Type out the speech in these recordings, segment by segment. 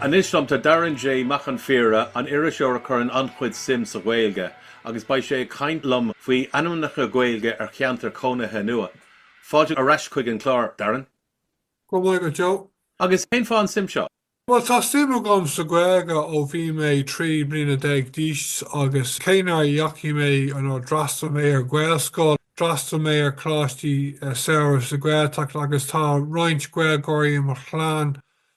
Anois liom, tá Darren J. Mac an Phríora, iriseoir a chuireann an-chuid suim sa Ghaeilge, agus beidh sé ag caint liom faoi ainmneacha Gaeilge ar cheantair chónaithe nua. Fáilte ar ais chuig an chlár, Darren. Go raibh maith agat, Joe. Agus cén fáth an suim seo? Bhuel, tá suim agam sa Ghaeilge ó bhí mé trí bliana déag d'aois agus cé nár dheachaigh mé, nár fhreastail mé ar Ghaelscoil, d'fhreastail mé ar choláistí samhraidh sa Ghaeltacht agus tá roinnt Gaeilgeoirí i mo chlann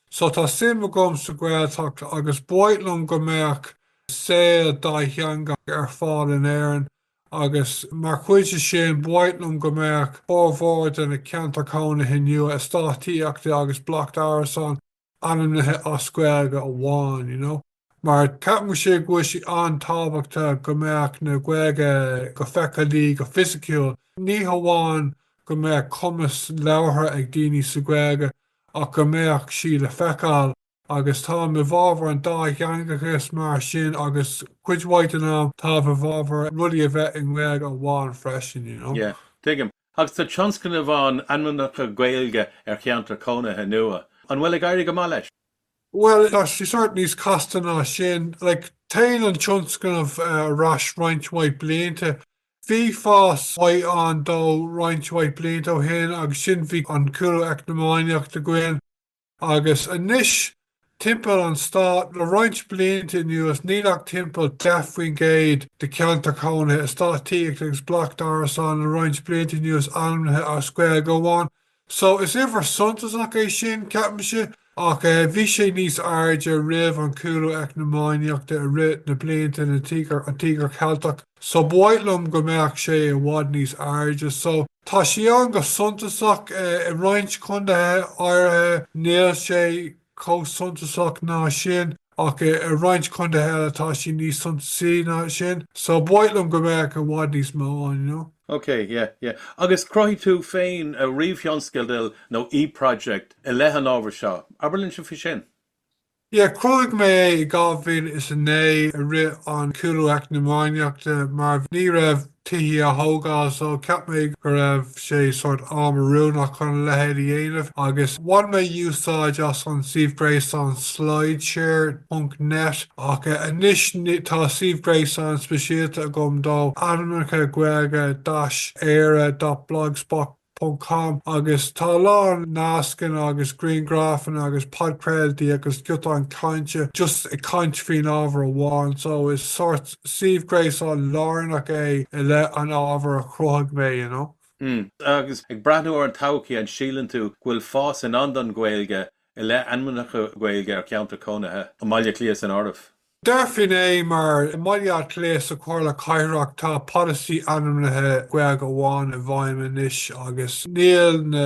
So tá suim agam sa Ghaeltacht agus ba mhaith liom go mbeadh saol dátheangach ar fáil in Éirinn agus mar chuid de sin ba mhaith liom go mbeadh formhór de na ceantair chónaithe nua eastáit tithíochta agus bloic d'árasáin ainmnithe as Gaeilge amháin, you know. mar ceapaimse go bhfuil sé an-tábhachtach go mbeadh an Ghaeilge go feiceálach, go fisiciúil, ní hamháin go mbeadh cumas labhartha ag daoine sa Ghaeilge ach go mbeadh sí le feiceáil agus táim i bhfábhar an dátheangachais mar sin agus cuid mhaith den am táim i bhfábhar rudaí a bheith i nGaeilge amháin freisin, you know. Yeah. Tuigim. Agus tá tionscnamh ann ainmneacha Gaeilge ar cheantair cónaithe nua. An bhfuil ag éirí go maith leis? Bhuel, tá sé sórt níos casta ná sin. Like, téann an tionscnamh ar ais roinnt mhaith blianta. Bhí fás mhaith ann dó roinnt mhaith blianta ó shin agus ansin bhí an cúlú eacnamaíochta againn. Agus anois, timpeall an stáit, le roinnt blianta anuas, níl ach timpeall 10 faoin gcéad de cheantair chónaithe, eastáit tithíochta agus bloic d'árasáin le roinnt blianta anuas ainmnithe as Gaeilge amháin. So, is uimhir suntasach é sin, ceapaimse, ach bhí sé níos airde roimh an cúlú eacnamaíochta i rith na blianta, an Tíogar Cheilteach. so ba mhaith liom go mbeadh sé i bhfad níos airde so tá sí ann go suntasach i roinnt condaethe áirithe níl sé chomh suntasach ná sin ach i roinnt condaethe eile tá sí níos suntasaí ná sin so ba mhaith liom go mbeadh i bhfad níos mó ann you know. Ok, yeah, yeah. Agus chruthaigh tú féin ríomhthionscadal nó e-project i leith an ábhair seo, abair linne faoi sin? Yeah, chruthaigh mé é i 2009, i rith an chúlú eacnamaíochta, mar ní raibh tithe á thógáil, so cheap mé go raibh sé sórt am oiriúnach chun a leithéid a dhéanamh, agus bhain mé úsáid as an suíomh gréasáin slideshare dot net, ach anois tá suíomh gréasáin speisialta agam dó, ainmneacha Gaeilge, dash, Éire dot blogspot. com, agus tá a lán nascanna agus griangrafanna agus podchraoltaí agus giotáin chainte just ag caint faoin ábhar amháin so is sort suíomh gréasáin lárnach é i leith an ábhair a chruthaigh mé you know. Mm. Agus ag breathnú ar an todhchaí, an síleann tú go bhfuil fás i ndán don Ghaeilge i leith ainmneacha Gaeilge ar cheantar cónaithe, i mBaile Átha Cliath san áireamh? Déarfainn é, mar, i mBaile Átha Cliath, sa Chomhairle Cathrach, tá polasaí ainmnithe Gaeilge amháin i bhfeidhm anois agus níl na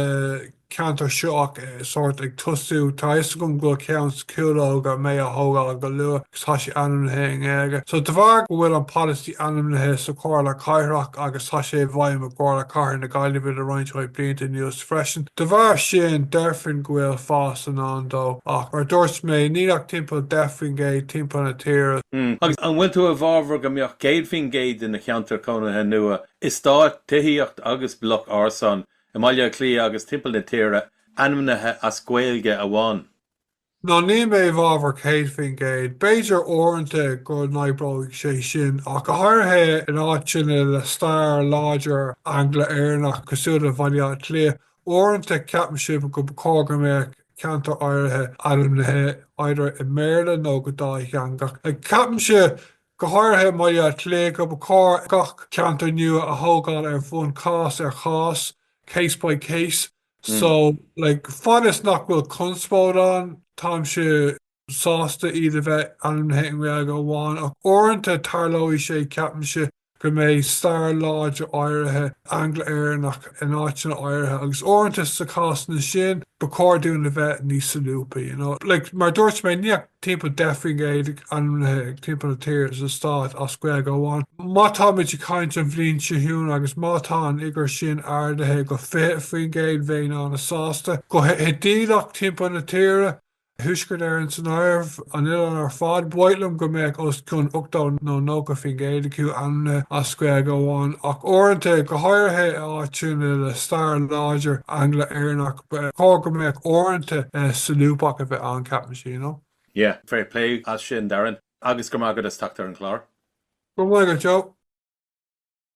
ceantair seo ach sórt ag tosú. Tá a fhios agam go bhfuil ceann sa Chúlóg a bheidh á thógáil go luath agus tá sé ainmnithe i nGaeilge. So de bharr go bhfuil an polasaí ainmnithe sa Chomhairle Cathrach agus tá sé i bhfeidhm i gComhairle Cathair na Gaillimhe le roinnt mhaith blianta anuas, freisin. De bharr sin, déarfainn go bhfuil fás i ndán dó, ach, mar a dúirt mé, níl ach timpeall 10% timpeall na tíre. Agus an bhfuil tú i bhfabhar go mbeadh 100% de na ceantair cónaithe nua, eastáit tithíochta agus bloc árasán i mBaile Átha Cliath agus timpeall na tíre ainmnithe as Gaeilge amháin? No, níl mé i bhfabhar 100%. B'fhéidir uaireanta go n-oibreoidh sé sin, ach go háirithe in áiteanna le stair láidir Angla-Éireannach cosúil le Baile Átha Cliath. Uaireanta ceapaimse go ba chóir go mbeadh ceantair áirithe ainmnithe either i mBéarla nó go dátheangach. Like, ceapaimse, go háirithe i mBaile Átha Cliath, go ba chóir gach ceantar nua a thógáil ar bhonn cás ar chás, case by case. So, like, fad is nach bhfuil conspóid ann, táimse sásta iad a bheith ainmnithe i nGaeilge amháin, ach uaireanta tarlóidh sé, ceapaimse, go mbeidh stair láidir áirithe Angla-Éireannach in áiteanna áirithe, agus uaireanta, sna cásanna sin, ba chóir dúinn a bheith níos solúbtha, you know. Like, mar a dúirt mé, níl ach timpeall 10 faoin gcéad ainmnithe timpeall na tíre, sa stát, as Gaeilge amháin. Má táimid ag caint an bhliain seo chugainn agus má tá an fhigiúr sin ardaithe go 20 faoin gcéad bheinn an-sásta. Go hidéalach timpeall na tíre, Thuaisceart Éireann san áireamh, an oileán ar fad, ba mhaith liom go mbeadh os cionn 80 nó 90 faoin gcéad acu ainmnithe as Gaeilge amháin ach uaireanta, go háirithe i áiteanna le stair láidir Angla-Éireannach, ba chóir go mbeadh uaireanta solúbthacht a bheith ann, ceapaimse, you know? Yeah, fair play as sin Darren, agus go raibh maith agat as teacht ar an chlár. Go raibh maith agat Joe.